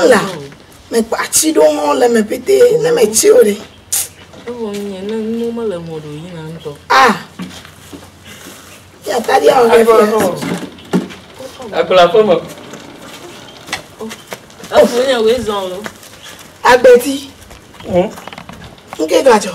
Ela, me kpa tsi ɖo hɔn le me pété, ne me tsi o ɖe. Ewo nye ne nu me le mo ɖo yi na ŋtɔ. Ah. Ya ta dia o ke. Akula ko mo. Afu nya we zon lo. Agbeti. Hm. Nke gajo.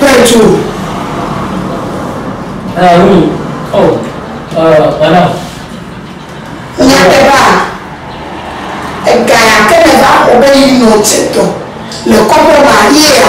Petro. Nyateƒea, ega ya ke nèva xɔ be yi nɔ dze tɔ le kɔƒe ma yea?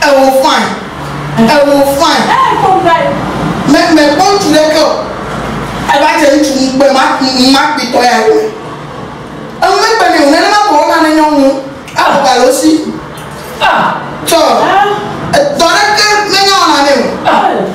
Ewo fine. Ewo fine. Eee kpɔ ŋu vae. Me me kpɔ ŋutsu ɖe ke o. Eva dze ŋutsu ŋu kpe ma ma kpi tɔ ya kpe. Enu me kpe nɛ o. Nene ma kpɔ na ne nyɔnu abɔ ga lo si. Ah. Tsɔ. Ah. Edɔ ɖe ke me nya wɔna nɛ o. Ah.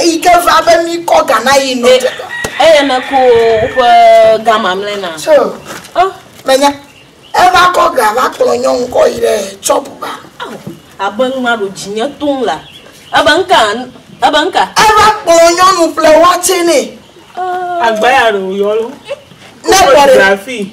Eyi ke va be mí kɔ ga na yi nɔ te dɔ. Eye me ko woƒe ga mamlɛ na. So. Oh. Me nya. Eva kɔ ga va kplɔ nyɔnu kɔ yi ɖe chɔpu ba. Oh. Abe nu ma ɖo dzi nye tom la. Ebe nka, ebe nka. Eva kplɔ nyɔnu ƒle wɔtse nɛ. Oh. Agba ya ɖo yɔlo. Ne kpɔ ɖe. Grafi.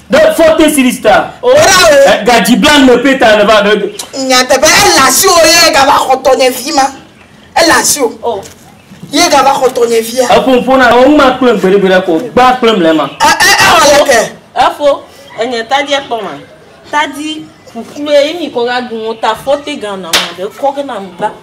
Ɖe fɔte series ta. Ora o. Eh, gadzi blan me pe ta ne va ɖe. Nyateƒe ele asi o ye gava xɔ tɔnye vi ma. Ele asi o. Oh. Ye gava xɔ tɔnye via. Eƒomƒo na o ma kple gbeɖe gbeɖe ko gba kple mle ma. E e e wɔ le ke. Efo enye tadi ekpɔ ma. Tadi ƒuƒlu ye mi ko ga gun ta fɔte gan na ma de kɔ ke na mgba.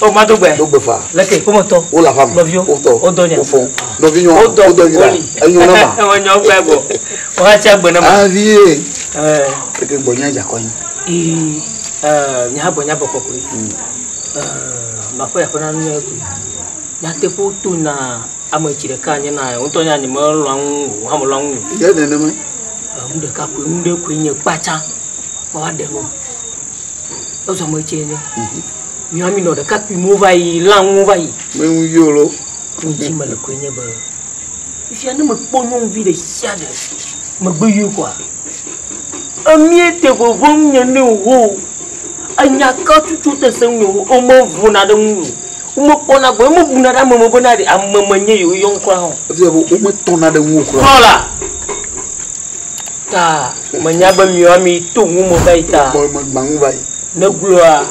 O ma do gbɛ. Do gbɛ fa. Leke ƒome tɔ. Wo le aƒa me. Nɔviwo. Wo tɔ. Wo dɔ nya. Wo fɔ. Nɔvinyɔa. Wo dɔ. Wo dɔ nyina. Enyɔ na ma. Ewa nyɔ gbɛ bɔ. Wo ha tsi agbe na ma. Avi ye. Ɛɛ. Eke gbɔ nya dza kɔ nyi. Ii. Ɛɛ mi ha gbɔ nya bɔ kɔ koe. Ɛɛ ma fɔ ya fɔ na nu ya koe. Nya te ƒu to na ame tsi ɖeka nye na wo tɔ nya nye me lɔ ŋu o. Ha me lɔ ŋu. Ye ne ne me. Ɛɛ nu ɖeka koe nu ɖe koe nye kpatsa. Kpɔ wa ɖe nu. Ezo me tsi nye. Nyɔa mi nɔ ɖekakpui mo va yi la ŋu va yi. Me ŋu yo lo. Ŋu dzi me le koe nye be fia ne me kpɔ nyɔnuvi ɖe sia ɖe me gbe yo kɔa. Emie te vovo ŋu nye ne wo. Enya ka tutu te se ŋu nye wo. Ome vo na ɖe ŋu yo. Wo me kpɔ na gbe. Eme bu na ɖe ame me be na ɖe ame me nye yo yɔ ŋu kura hã. Efia be wo me tɔ na ɖe ŋu kura. Kɔ la. Ta me nya be miɔ mi to ŋu me va yi ta. Kɔ me gba ŋu va yi. Negblɔa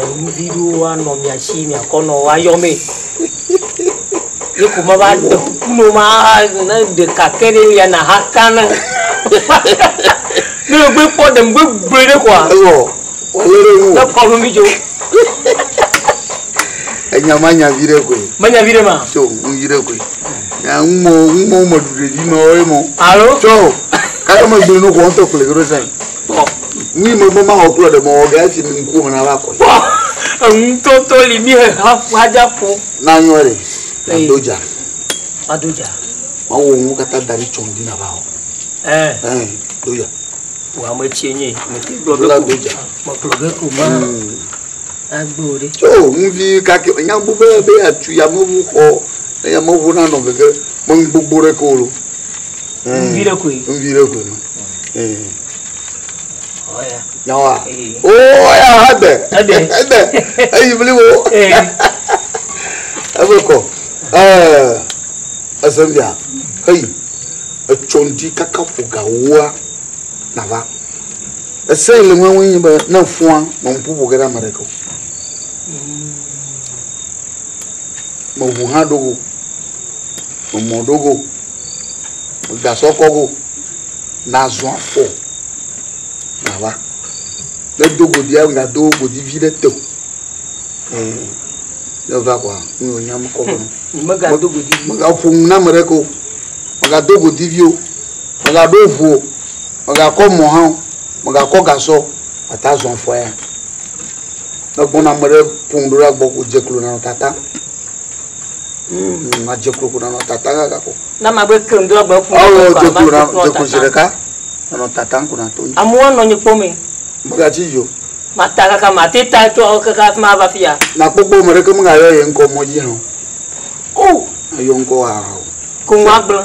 enu vi ɖewo anɔ mia si miakɔ nɔ woayɔ mee. Ye ko ma va ɖe kuku nɔ ma ne ɖeka ke ɖe lia na ha kan. Ne gbe kpɔ ɖe gbe gbe ɖe kɔa. Ewɔ. Wale ɖe nu. Ne kɔ nu mi jo. Enya ma nya vi ɖe koe. Me nya vi ɖe ma. Tso nu vi ɖe koe. Ya ŋmɔ ŋmɔ me ɖu ɖe vi ma wo ye mɔ. Alo. Tso. Kaya me gbe no kɔ ŋtɔ kple gero sɛn. Nyi mebe mawɔ kple ɖe mewɔ ge esi mi ŋkuwo me nava kɔe. Kpɔ enutoto li mi hexa xadza ƒo. Na nyɔ li. Ado dza. Ado dza. Mawu wɔ ŋu katã da ɖi tsɔ ŋdi na va wɔ. Ɛ. Ɛ do dza. Wò ame tsie nye me te gblɔ be. Ado dza. Me gblɔ be ko ma. Agbe o ɖe. Tso ŋuvi kake me nya gbogbo be be atu yameʋu xɔ ne yameʋu nanɔ gege me ŋgbogbo ɖe ke o lo. Ŋuvi ɖe koe. Ŋuvi ɖe koe ma. Yawa. Oh, ya hade. Ede. Ede. Eyi bli wo. Ebe kɔ. Eh. Ezembia. Heyi. Etsondi kaka foga woa. Nava. Ese ile mwe mwe nyibe na fua ma mpu bo gera mereko. Mo hu ha dogo. Mo dogo. Gasɔ kɔ go na zɔn afɔ na va. Ne do godi ya na do godi vi ɖe te. Ne va kwa nu yo nyam kɔ go. Me ga do godi vi. Me ga fo na me re ko. Me ga do godi vi o. Me ga do vo. Me ga kɔ mo ha. Me ga kɔ gasɔ ata zɔn afɔ ya. Ne gbona me re pun do ra gbo ko je klo na tata. Mm, madze klo ko nanɔ tata kaka ko. Na magbe keŋ do agbe ƒu. Awo dze klo na dze klo zi ɖeka nanɔ tata ŋku na to yi. Amewo nɔ nyi kpɔm yi. Megadzi yo. Mata kaka mate ta tso kaka afi ma va fi ya. Nakpɔkpɔ me ɖeke megayɔ ye ŋkɔ mɔ dzi hã o. O. Ayɔ ŋkɔ hã o. Ko ŋu agblẽ.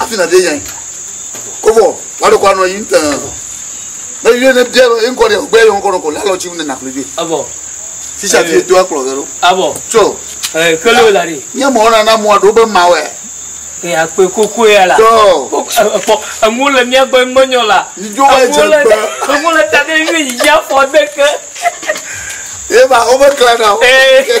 Afi na ɖe yɛn. Kovɔ, wa ɖe kɔ anɔ yi ŋutɛ. Ne yue ne bia lɔ, eŋkɔ ɖe gbɛ yɔ ŋkɔ nɔ kɔ la lɔ tsi ŋu ne naklo dzi. Abɔ. Sisa bi eto akplɔ ge ɖo. Abɔ. Tso. Ɛ kele wo la ɖe. Nye mɔ na na mɔ ɖo be ma wɛ. Ɛ akpe koko ya la. Tso. Kpɔ eŋu le mía gbɔ ŋmɔ nyɔ la. Ni dzo wa dze gbe. Eŋu le ta ɖe yue yi ya fɔ de ke. Eba wo be kla na o. Ee.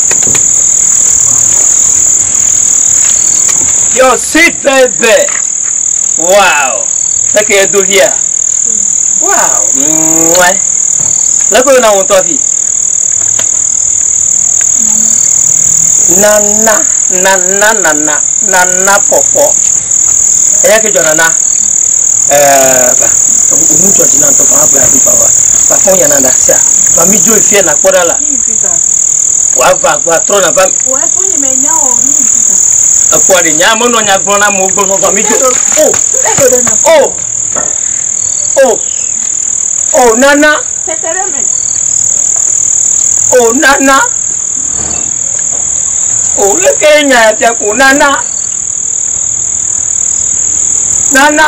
Your sweet baby. Wow. Seke ye do via. Wow. Mwa. Leko yona won to afi. Nana, nana, nana, nana popo. Eya ke jona na. Eh, ba. Omu jona na to ba ba ba. Ba fo yana na sia. Ba mi jo ifia na kora la. Wòava agbɔ atrɔna va mi. Ekpɔ ɖe nya menɔ nya gblɔ na amewo gbɔnɔ va mi do. O o o o nana o nana o leke nya ya fia ko nana nana.